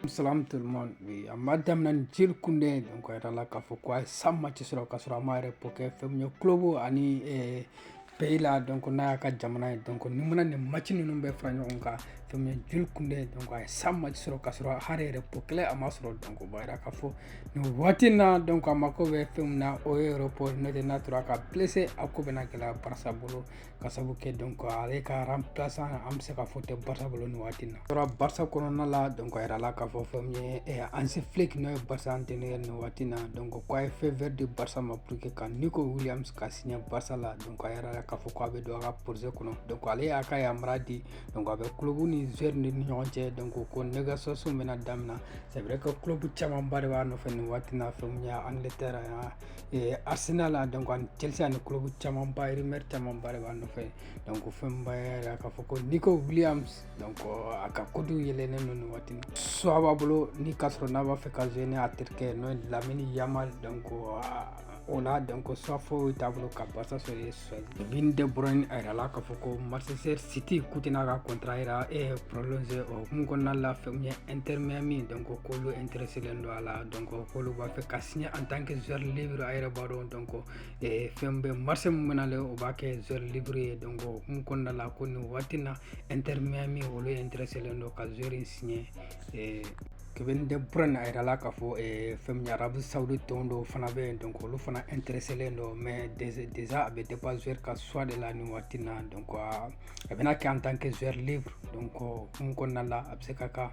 Salam tout le monde. Oui, an b'a daminɛ ni jules koundé donc a yirala k'a fɔ ko a ye cent matchs sɔrɔ k'a sɔrɔ a ma repos kɛ fɛn min ye club ani eh, pays la donc n'a y'a ka jamana ye donc n'i mana nin maci ninnu bɛɛ fara ɲɔgɔn kan fɛn min ye jules koundé donc a ye cent matchs sɔrɔ k'a sɔrɔ hali repos kelen a ma sɔrɔ donc o b'a yira k'a fɔ nin waati in na donc a mako bɛ fɛn min na o ye repos n'o tɛ n'a tora ka blessé a ko bɛna gɛlɛya barça bolo ka sabu kɛ donc ale ka remplaçant an bɛ se k'a fɔ tɛ barça bolo nin waati na tora barça kɔnɔna la donc a yirala k'a fɔ fɛn min ye hansi flick n'o ye barça entraîneur nin waati na donc ko a ye feu vert di barça ma pour que ka nico williams ka signer barça la donc a yirala k'a fɔ ko a bɛ don a ka projet kɔnɔ donc ale y'a ka yamaruya di donc a bɛ club ni joueur ni ɲɔgɔn cɛ donc ko négociation bɛna damina c'est vrai que club camanba de b'a nɔfɛ nin waati na fɛn min ye angleterre Eh, arsenal donc ani chelsea ani club caman ba rumeur caman ba de b'a nɔfɛ donc fɛn b'a yira k'a fɔ ko nico williams donc a ka cote yɛlɛnnen don nin waati choix b'a bolo ni k'a sɔrɔ n'a b'a fɛ ka jouer ni a terikɛ n'o ye lamine yamal donc o la donc choix foyi t'a bolo ka barça sɔrɔ Bin de bɔra a yɛrɛ la k'a fɔ ko masasɛ site kut n'a ka kɔnta jira e pse o kun kɔnɔna la fɛn ye n terirmaya min dɔn ko kolo n terir selen don a la dɔn ko b'a fɛ ka siɲɛ an tan kɛ zlib a yɛrɛ b'a dɔn dɔn kɔ fɛn bɛ mari min bɛnalen o b'a kɛ zlibri ye dɔn kun kɔnɔna la ko nin waati na n terirmaya min olu ye n terir selen don ka zori siɲɛ kevin de bruyne a yirala k'a fɔ eh, fɛn min ye arabie saoudite tɔn dɔw fana bɛ yen donc olu fana intéresselen don mais déjà a bɛ dépend joueur ka choix de la nin waati na donc a bɛna kɛ en tant que joueur libre donc o hukumu kɔnɔna la a bɛ se ka ka